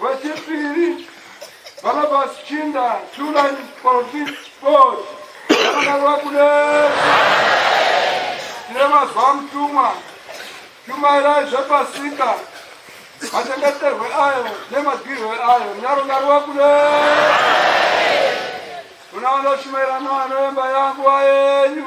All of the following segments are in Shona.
Vachipiri Barnabas Chinda Tulan Politics Board yakadarwa kune tine mazuva mutumwa shumairai zvepasika machengeterwe ayo nemadirwe ayo nyaro ndarwa kune kuna vanoshumaira novanovemba yangu vayenyu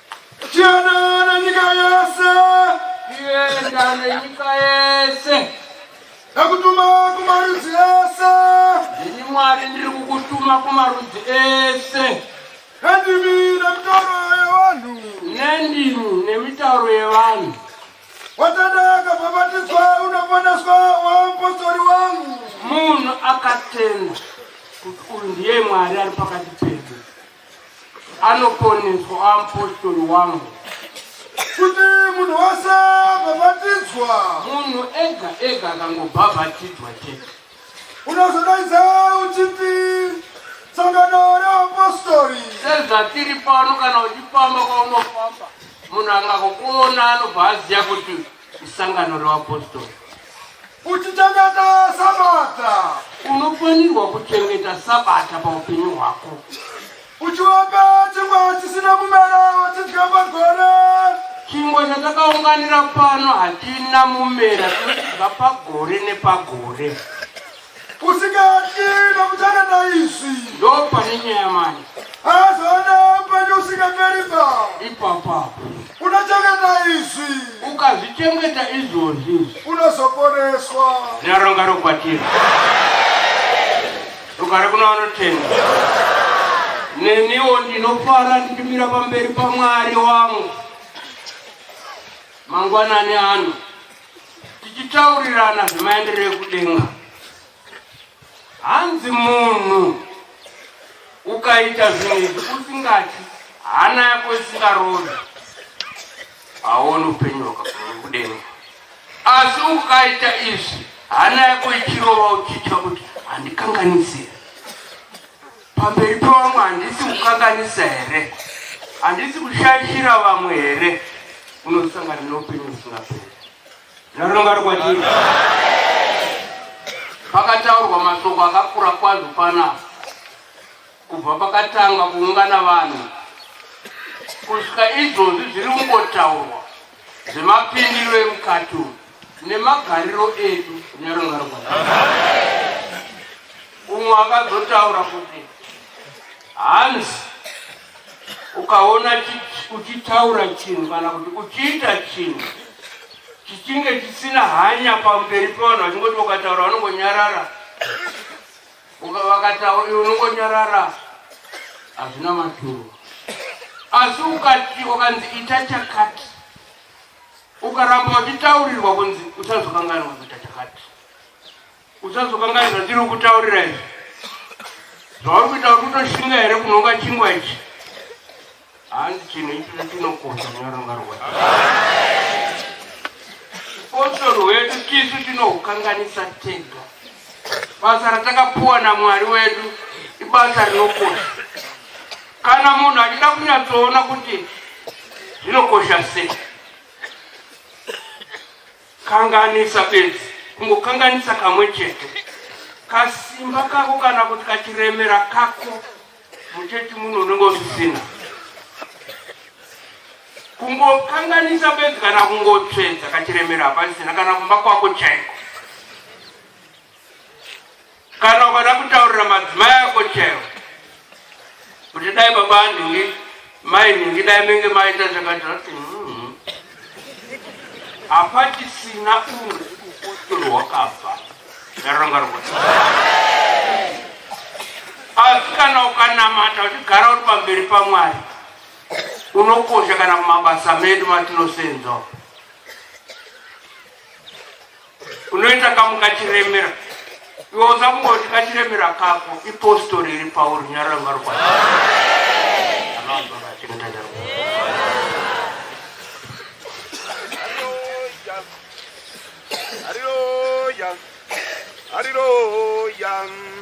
Tienda nenyika yese. Tienda nenyika yese. Nakutuma kumarudzi ese. Ndini Mwari ndiri kukutuma kumarudzi ese. Nendimi nemitauro yevanhu. Nendimi nemitauro yevanhu. Watenda akabhabhatidzwa unoponeswa wamupostori wangu. Munhu akatenda kuti uyu ndiye Mwari ari pakati pedu. anoponeswa apostori wangu kuti munhu wese abhabhatidzwa munhu ega ega akangobhabhatidzwa chete unozodaidza uchiti sangano reapostori sezvatiri pano kana uchifamba kwaunofamba munhu angakukuona anobva aziva kuti Sangano revapostori. Uchichengeta Sabata. Unofanirwa kuchengeta Sabata paupenyu hwako. Uchiwapa chingwa chisina mumero wachidya pagore. Chingwa chatakaunganira pano hachina mumera, tinochidya pagore nepagore. usingatyi nokuti akaita izvi ndopane nyaya mani azoona upenyu usingaperi ba ipapapo unochengeta izvi ukazvichengeta izvozvi unozoporeswa naronga rokwatira rugare kuna vanotenda neniwo ndinofara ndichimira pamberi pamwari wangu mangwanani ano tichitaurirana zvemaendero ekudenga hanzi munhu ukaita zvinhu izvi usingati hana yako isingarodi haoni upenyu hwakakudenga asi ukaita izvi hana yako ichirova uchitya kuti handikanganisire Pamberi pavamwe handisi kukanganisa here? Handisi kushaishira vamwe here? Unosangana neupenyu husingaperi. Naronga rikwadii? Pakataurwa mashoko akakura kwazvo panapa kubva pakatanga kuungana vanhu kusvika izvozvi zviri kungotaurwa zvemapindiro emukati uyu nemagariro edu nerungarwa umwe akazotaura kuti hanzi ukaona uchitaura chinhu kana kuti uchiita chinhu chichinge chisina hanya pamberi pevanhu vachingoti ukataura vanongonyarara Uka vakataura iwe unongonyarara hazvina maturo. Asi ukati wakanzi ita chakati ukaramba wachitaurirwa kunzi uchazokanganwa kuita chakati uchazokanganwa zvandiri kutaurira izvi zvauri kuita uri kutoshinga here kunonga chingwa ichi Hanzi chinhu ichii chinokosha muna ranga rwake. Upotsoro hwedu tisu tinohukanganisa tega. Basa ratakapuwa naMwari wedu ibasa rinokosha. Kana munhu achida kunyatsoona kuti zvinokosha sei, kanganisa bedzi, kungokanganisa kamwe chete, kasimba kako kana kuti kachiremera kako Muchechi muno unenge usisina kungokanganisa bedzi kana kungotsvedza kachiremera hapasisina kana kumba kwako chaiko kana ukada kutaurira madzimai ako chaiwo kuti dai baba andinge Mai nhingi dai menge maita zvakadira kuti hmm, hapachisina umwe upostoro hwakabva ndaronga rokuti asi kana ukanamata uchigara uri pamberi pamwari unokosha kana kumabasa medu matinosenzwa unoita kamu kachiremera iwe usakungoti kachiremera kako ipostori iri pauri nyarara marwazi Hallelujah. Hallelujah.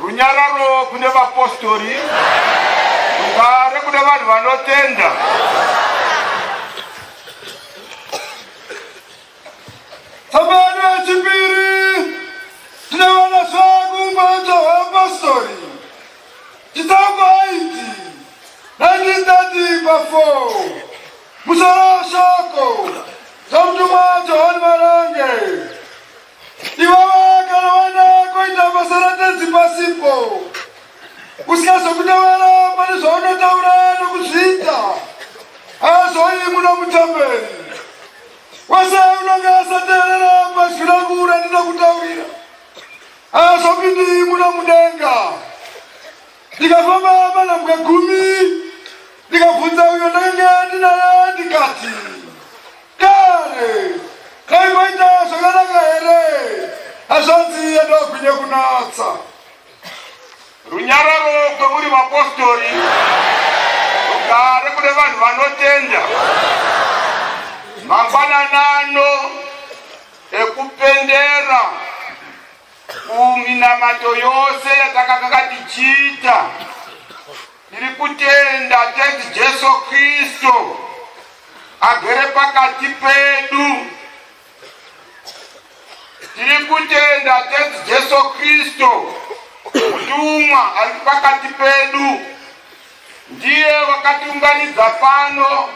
Runyararo kune vapostori, rugare kune vanhu vanotenda. Tsambano yechipiri tinoona zvakumboita hweapostori chitsauko 8 1930 pa 4 musoro weshoko zvamutumwa Johani Marange Iwewe kana waenda koita basa ratenzi pasipo usikazokutevera pane zvaunotaura nokuzviita azoyi muno mutemberi wese unonge asateerera pazwi rangu randinokutaurira azopindi muno mudenga ndikafamba manhambwe gumi ndikabvunza uyo ndenge ndinaye ndikati Dare dai maita zvakanaka here hazvanzi yandagwinya kunatsa runyararo kwemuri vapostori rugare kune vanhu vanotenda mangwananano ekupendera kuminamato yose yatakakaka tichiita Ndiri kutenda Tenzi Jesu Kristu agere pakati pedu. Tiri kutenda Tenzi Jesu Kristu mutumwa ari pakati pedu, ndiye wakatiunganidza pano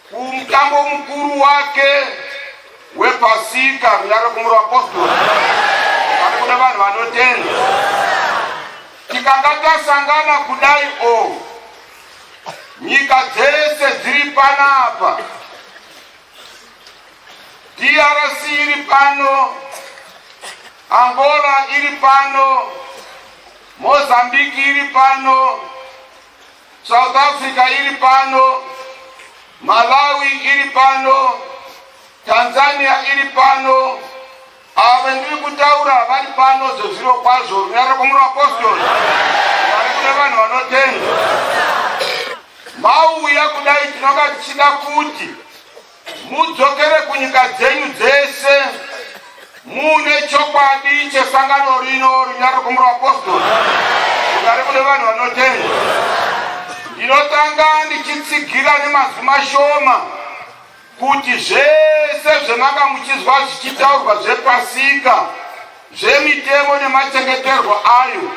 Kumutambo mukuru wake wepasika kunyara kumura apostoli kana kuda vanhu vanotenda tikanga tasangana kudai o nyika dzese dziri panapa drc iri pano angola iri pano mozambiki iri pano South Africa iri pano, Malawi iri pano, Tanzania iri pano, ava vandiri kutaura vari pano zvezviro kwazvo runyararo kwamuri vapostori vari kuda vanhu vanotenda mauya kudai tinoka tichida kuti Mudzokere kunyika dzenyu dzese muune chokwadi chesangano rino rina rokumura vapostori kugare kune vanhu vanotenda. Ndinotanga ndichitsigira nemazwi mashoma kuti zvese zvemanga muchizwa zvichitaurwa zvepasika zvemitemo nemachengeterwo ayo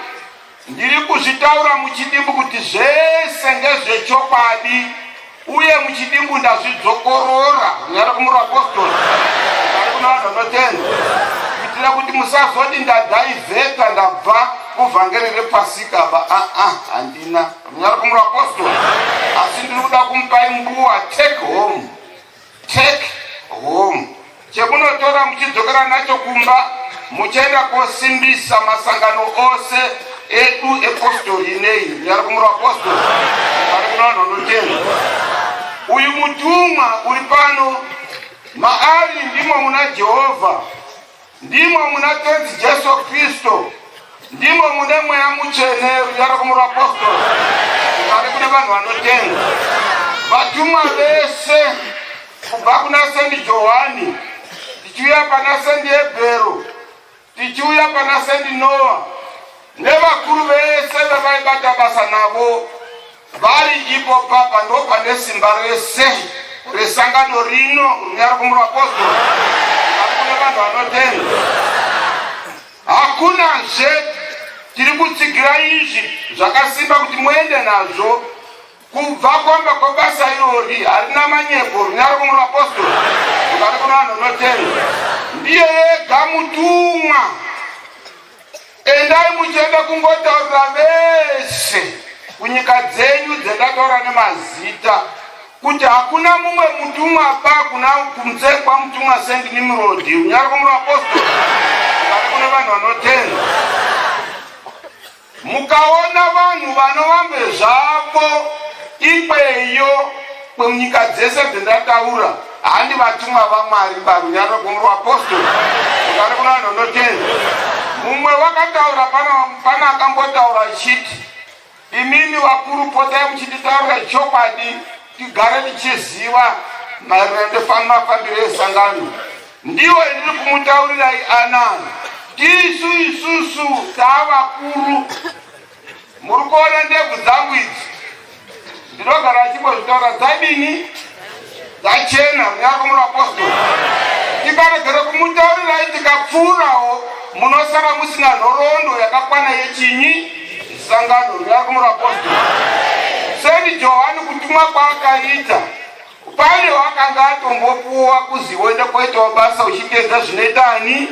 Ndiri kuzvitaura muchidimbu kuti zvese ndezvechokwadi uye muchidimbu ndazvidzokorora kunyara kumura apostoli ari kuna vanhu vanotenda kuitira kuti musazoti ndadaivheta ndabva kuvhangeri repasika ba aa ah, ah, handina kunyara kumura apostoli asi ndiri kuda kumupai mbuwa take home Take home, chekunotora muchidzokera nacho kumba muchienda kosimbisa masangano ose edu epostori nei nyari kumura apostori ari kuno vanhu vanotenda uyu mutumwa uri pano maari ndimo muna jehovha Ndimo muna Tenzi Jesu Kristu, ndimo mune mweya mutsvene, kudaro kumuapostora kugare kune vanhu vanotenda. Vatumwa vese kubva kuna Sendi Johani tichiuya pana Sendi Ebhero tichiuya pana Sendi Noa nevakuru vese vevaibata basa navo Vari ipo papa ndopane simba rese resangano rino runyari kumurapostora akune vanhu vanotenda hakuna zve tiri kutsigira izvi zvakasimba kuti muende nazvo kubva kwamba kwabasa irori harina manyepo runyari kumurapostora ukati kuna vanhu vanotenda ndiye yega mutumwa Endai muchienda kungotaurira vese kunyika dzenyu dzendataura nemazita kuti hakuna mumwe mutumwa pa kuna kunze kwamutumwa sent nimrodi unyari kumwe apostoli ari kune vanhu vanotenda mukaona vanhu vanovambe zvavo ikweyo Kwemunyika dzese dzendataura handi vatumwa vamwari parunyararo gombo rwapostori ukari kuna vanhu vanotenda mumwe wakataura pana akambotaura chiti imimi vakuru potai muchititaurira chokwadi tigare tichiziva maererano ndefanmafambiro esangano ndiwo endiri kumutaurirai anani tisu isusu taavakuru Muri kuona ndebvu dzangu idzi ndinogara achimbozvitaura dzadini dzachena munyaka munapostori tikaregera kumutaurirai tikapfuurawo munosara musina nhoroondo yakakwana yechinyi sangano munyaka munapostori sendi johani kutumwa kwaakaita pane wakanga atombopuwa kuzivoenda kwaitawo basa uchiteedza zvinoita ani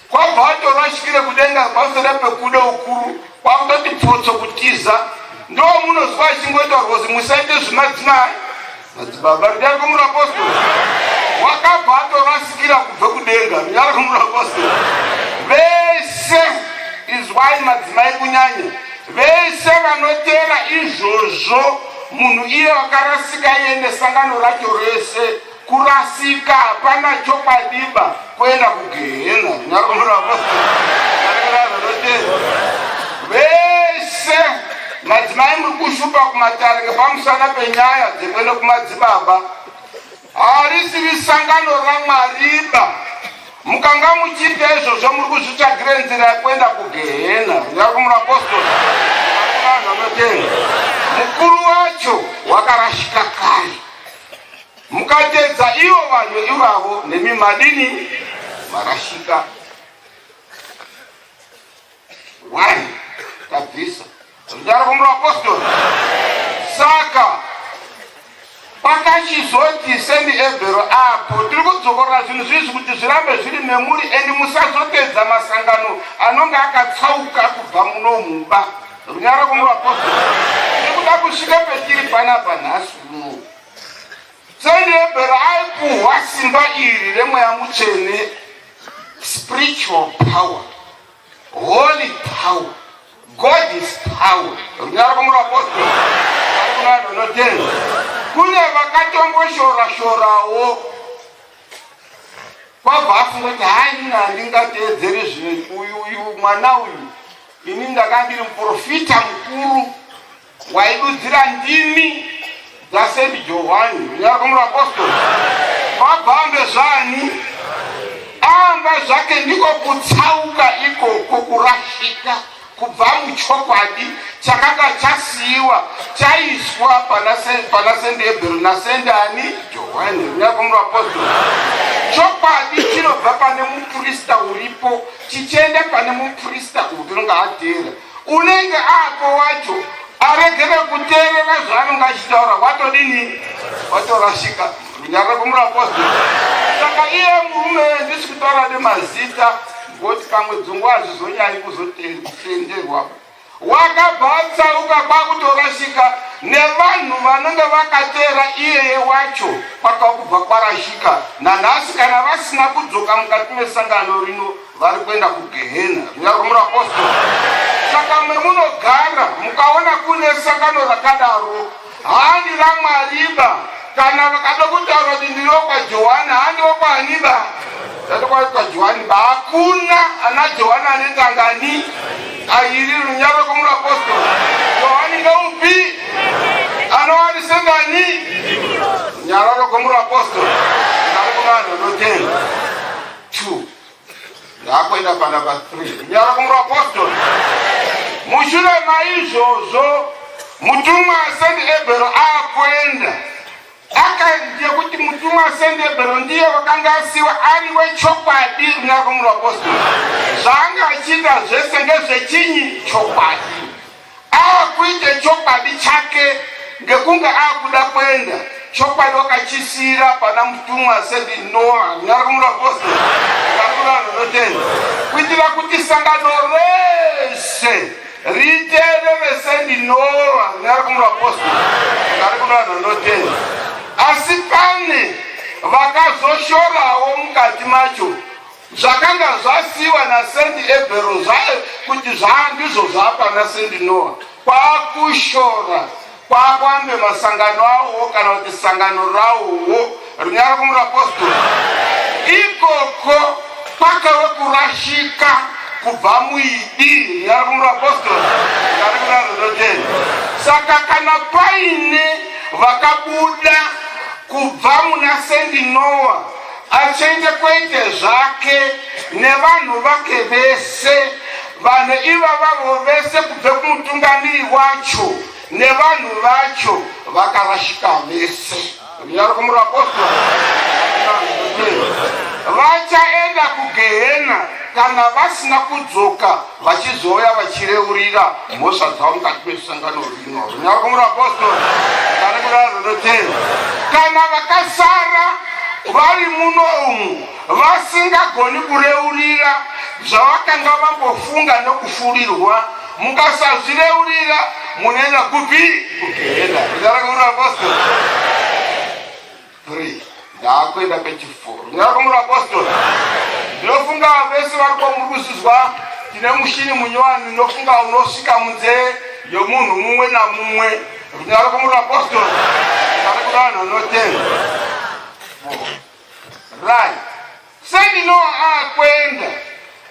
Kwabva atorwa asvikire kudenga pasere pekuda ukuru kwakutoti pfotso kutiza ndo munozwa achingoita rwozi musaite zvimadzimai madzibaba rudari kwemurapostori wakabva atorasikira kubva kudenga rudari kwemurapostori vese izwai madzimai kunyanya vese vanoteera izvozvo munhu iye wakarasika iye nesangano racho rese Kurasika hapana chokwadiba kuenda kugehena zvinyakomurapo vese madzimai muri kushupa kumatare ngepamusana penyaya dzekuenda kumadzibaba harisiri sangano ramwariba mukanga muchiita izvozvo muri kuzvitsvagire nzira yekuenda kugehena nyakumurapostol vanhu vanotenga mukuru wacho wakarashika kare Mukatedza ivo vanhu ivavo nemi madini marashika. Why? Tabvisa. Zvindaro kumura apostoli. Saka pakachizoti sendi ebhero apo tiri kudzokorora zvinhu zvizvi kuti zvirambe zviri memuri endi musazopedza masangano anonge akatsauka kubva muno mumba runyara kumura apostoli. Tiri kuda kusvika petiri panapa nhasi uno. Chenhebhera aipuhwa simba iri remweya mutsvene, spiritual power, holy power, God's power. Runyara rwomwe rwapostori ari kunaya ndonotenga. Kune vakatomboshora-shorawo kwabva afunga kuti hai mina handingateedzere zvino uyu uyu mwana uyu ini ndakandiri muprofita mukuru Waidudzira ndimi dzaSaint Johwani munyarwa muvapostori vabambe zvani amba zvake ndiko kutsauka ikoko kurashika kubva muchokwadi chakanga chasiyiwa chaiswa pana sende ebhero nasende ani johani unakomura apostol chokwadi chinobva pane muprista uripo chichienda pane muprista upi unonga ateera unenge apo wacho aregere kuteerera zvaanenge achitaura watodini watorashika runyararo kumuraposteri saka iye murume ndisi kutaura nemazita ngoti pamwe dzungu hazvizonyanyi kuzotenderwa wakabva atsaruka kwakutorashika nevanhu vanenge vakateera iyeye wacho kwakakubva kwarashika nanhasi kana vasina kudzoka mukati mesangano rino vari kuenda kugehena riya romurapostora saka memunogara mukaona kune sangano rakadaro handi ramwariba kana vakada kutaura kuti ndiri wokwajohani handi wokwaaniba tatokwajohani ba hakuna ana johani anetangani airi runyaro rokomurapostora johani ngeupi anoari sengani nyaro rokomurapostora ari kuvanhu anotenda two Ndakuenda panumber 3. Kunyara kumuapostle. Mushure maizvozvo mutumwa Saint Ebero akuenda akaziva kuti mutumwa Saint Ebero ndiye wakanga asiwa ari wechokwadi kunyara kumuapostle. Zvaanga achiita zvese ndezvechinyi chokwadi. Akuite chokwadi chake ngekunge akuda kuenda chokwadi wakachisiira pana mutumwa said Noah nyarumura vose nyarumura runotenda kuitira kuti sangano rese riterere said Noah nyarumura vose nyarumura runotenda asi pane vakazoshorawo mukati macho Zvakanga zvasiiwa naSendi Ebhero zvaye kuti zvaa ndizvo zvaapana Sendi Noa kwakushora kwakwambe masangano awowo kana kuti sangano rawowo rinyara kumurapostori ikoko kwakave kurashika kubva muidi rinyara kumurapostori ari kurareroteni saka kana paine vakabuda kubva muna Sendi Noa Achenjekweite zvake nevanhu vake vese, vanhu ivavavo vese kubve kumutungamiri wacho nevanhu vacho vakarashika vese. Runyaro kumuri vapostora. Vachaenda kugehena kana vasina kudzoka vachizouya vachireurira mhosva dzavo mukati mesangano rino runyakumura apostori kana kurara runotenda kana vakasara vari muno umu vasingagoni kureurira zvavakanga vambofunga nokufurirwa mukasazvireurira munoenda kupi kugehena runyakumura apostori Three. Ndaakuenda pechiforo. Ndinakumura apostoli. Ndinofunga vese vari kwamuruzizwa tine mushini munyowani ndinofunga unosvika munzee yomunhu mumwe namumwe. Ndinakumura apostoli. Kana kuda vanhu vanotenda. Right. Seni Noa akuenda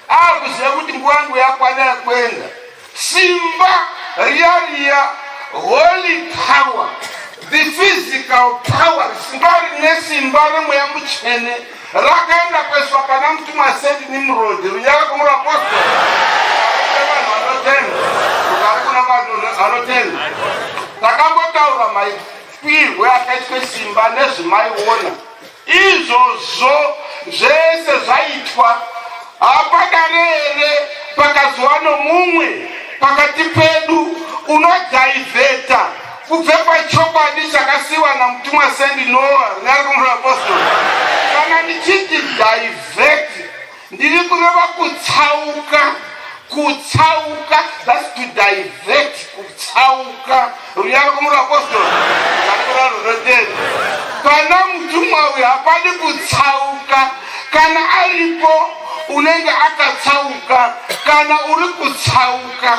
akuziva kuti nguva yangu yakwana yakuenda. Simba riya riya holy power the physical power simba rine simba remweya mutsvene rakaenda kueswa pana mutumwa Saint Nimrod riya rakumura apostol vanhu vanotenda ukari kuna vanhu vanotenda takambotaura maipirwe akaitwe simba nezvimaiona Izvozvo zvese zvaitwa padare here pakazova nomumwe pakati pedu unodhaivheta kubva pachokwadi chakasiiwa naMutumwa Sandy Noah, Nyarukumura Apostles, kana ndichiti dhaivheti Ndiri kureva kutsauka, kutsauka, that's to divert, kutsauka. Ruyari kumura apostolo, kakura runotenda. Pana mutumwa uyu hapadi kutsauka, kana aripo unenge akatsauka, kana uri kutsauka.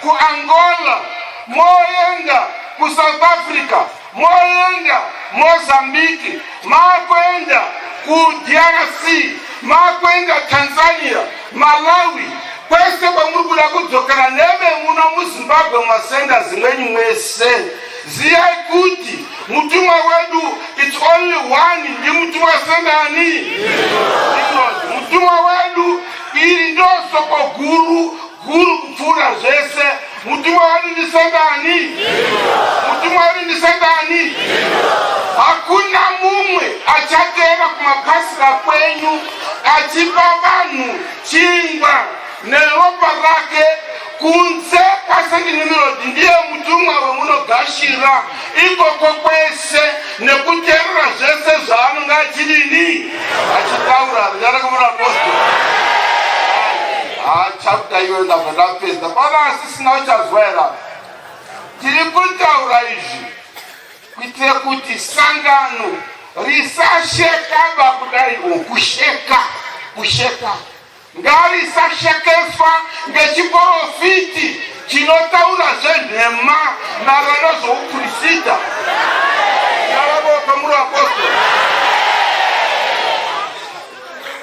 kuAngola moenda kuSouth Africa moenda Mozambique makuenda kuDRC makuenda Tanzania Malawi kwese kwamuri kuda kudzokera neve muno muzimbabwe masenda zimweni mwese ziyai kuti mutumwa wedu its only one ndi mutumwa sendani mutumwa wedu iri ndosoko guru Guru kupfuura zvese. Mutumwa wani ndi Satani. Mutumwa wani ndi Satani. Hakuna mumwe achateera kumapasira kwenyu achipa vanhu chingwa neropa rake kunze kwaSaint Nimrod ndiye mutumwa wemunogashira ikoko kwese. nekuterera zvese zvaanonga achinini achitaura zita rekumura apostle haa chapta iyoyo ndabva ndapedza pana asisina uchazwaira tiri kutaura izvi kuitira kuti sangano risashekaba kudai o kusheka kusheka Ngarisashekeswa ngechiporofiti chinotaura zvenhema naro nezvoupurisita. Ndaravo kwamuri vapostori.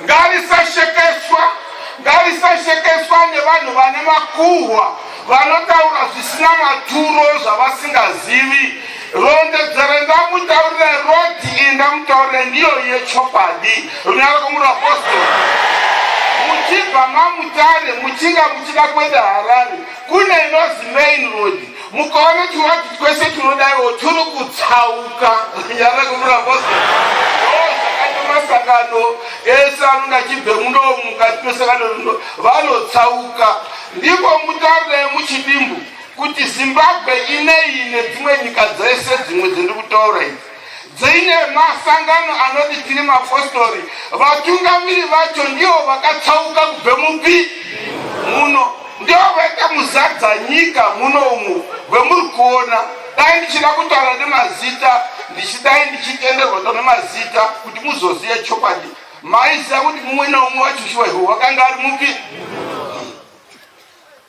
Ngarisashekeswa, ngarisashekeswa nevanhu vane makuhwa vanotaura zvisina maturo zvavasingazivi. Rondedzero ndamutaurira roti iyi ndamutaurira ndiyo yechokwadi runyaro komuri apostori muchibva mamutare muchinga muchida kuenda harare kune inozi main road mukaona chiwati twese tinodaiwo turi kutsauka runyaro komuri apostori masangano ese anonga chibve muno mukati mesangano rino vanotsauka ndipo mutaurire muchidimbu kuti Zimbabwe inei nedzimwe nyika dzese dzimwe dziri kutaura idzi dziine masangano anoti tiri mapostori vatungamiri vacho ndivo vakatsauka kubve mupi muno ndivo vaita muzadza nyika muno umu vemuri kuona dai ndichida kutaura nemazita ndichidai ndichitenderwa to nemazita kuti muzoziva chokwadi maiziva kuti mumwe neumwe wacho shuwa ivo wakanga ari mupi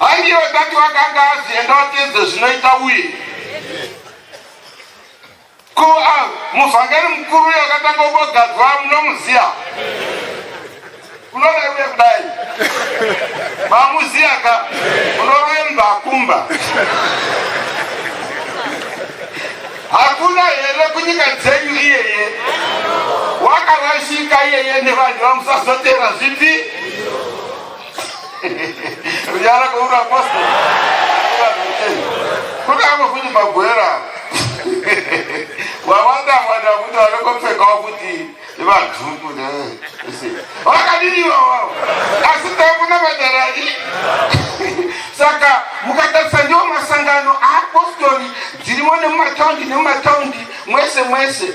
Angive kati wakanga azienda watedze zvinoita uye ko ah, muvhangeri mukuru uyo akatanga kugadzwa munomuziya unorewe kudai mamuziya ka unorove munhu akumba hakuna here kunyika dzenyu iyeye wakarashika iyeye nevanhu vamusazotera zvipi kunyara kweuri apostle kudako futi magwera wawanda wanda kuti vanokopfekawo kuti ivajuku vakadini iwawawo asi takuna madaraki saka mukatarisa ndiwo masangano aapostori dzirimo nemumataundi nemumataundi mwese mwese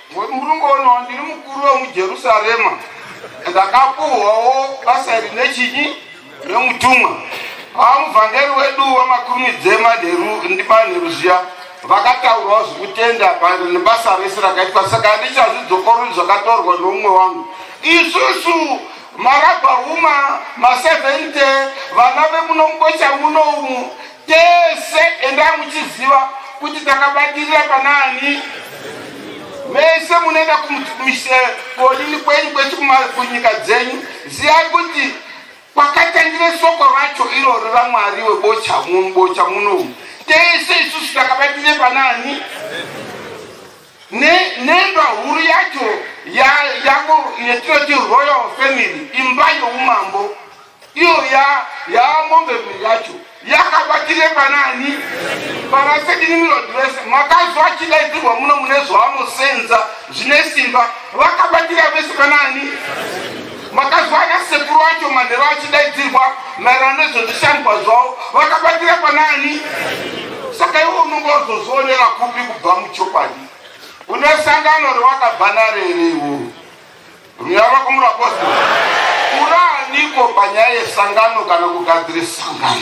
Ngokuti muri kungoona ndiri mukuru wemujerusarema ndakapuhwawo basa iri nechinyi nemutumwa amuvhangeri wedu wamakurumidze manheru ndimanheru zviya vakataurawo zvekutenda pano nebasa rese rakaitwa saka handichazvidzokoroi zvakatorwa nomumwe wangu isusu maragwa huma ma70 vana vemunombocha muno umu Tese endai muchiziva kuti takabatirira panaani vese munoenda kodini kwenyu kwese kunyika dzenyu ziyai kuti kwakatangire soko racho irori ramwari webocha mubocha munomu tese isusu takabatire panaani nembwa huru yacho yavo yatinoti royal family imba youmambo Iyo ya ya mombe yacho yakabatire panani vanasekinimilodi vese makazwa chidaidzirwa muno mune zvavanosenza zvine simba vakabatira vese panani makazwa ana sekuru acho manhero achidaidzirwa maererano nezvezvishandwa zvavo vakabatira panani saka iwe unonge wazozvionera kupi kubva muchokwadi une sangano rewakabva naro here iwoo Runyararo kumurapostora. Uraaniko panyaya yesangano kana kugadzira sangano?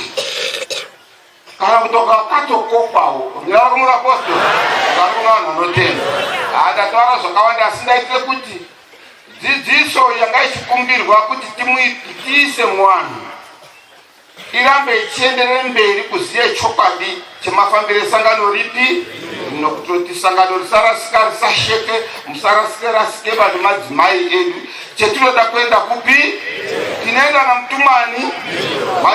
Kana kutoka katokokwawo. Runyararo kumurapostora. Kana kuna vanhu vanotenda. Handataura zvakawanda asi ndaitire kuti dzidziso yanga ichikumbirwa kuti tiise muwanhu irambe ichienderere mberi kuziva chokwadi chemafambiro esangano ripi nokutoti sangano risarasika risasheke musarasike rasike vanhu madzimai edu chetinoda kuenda kupi tinoenda namutumani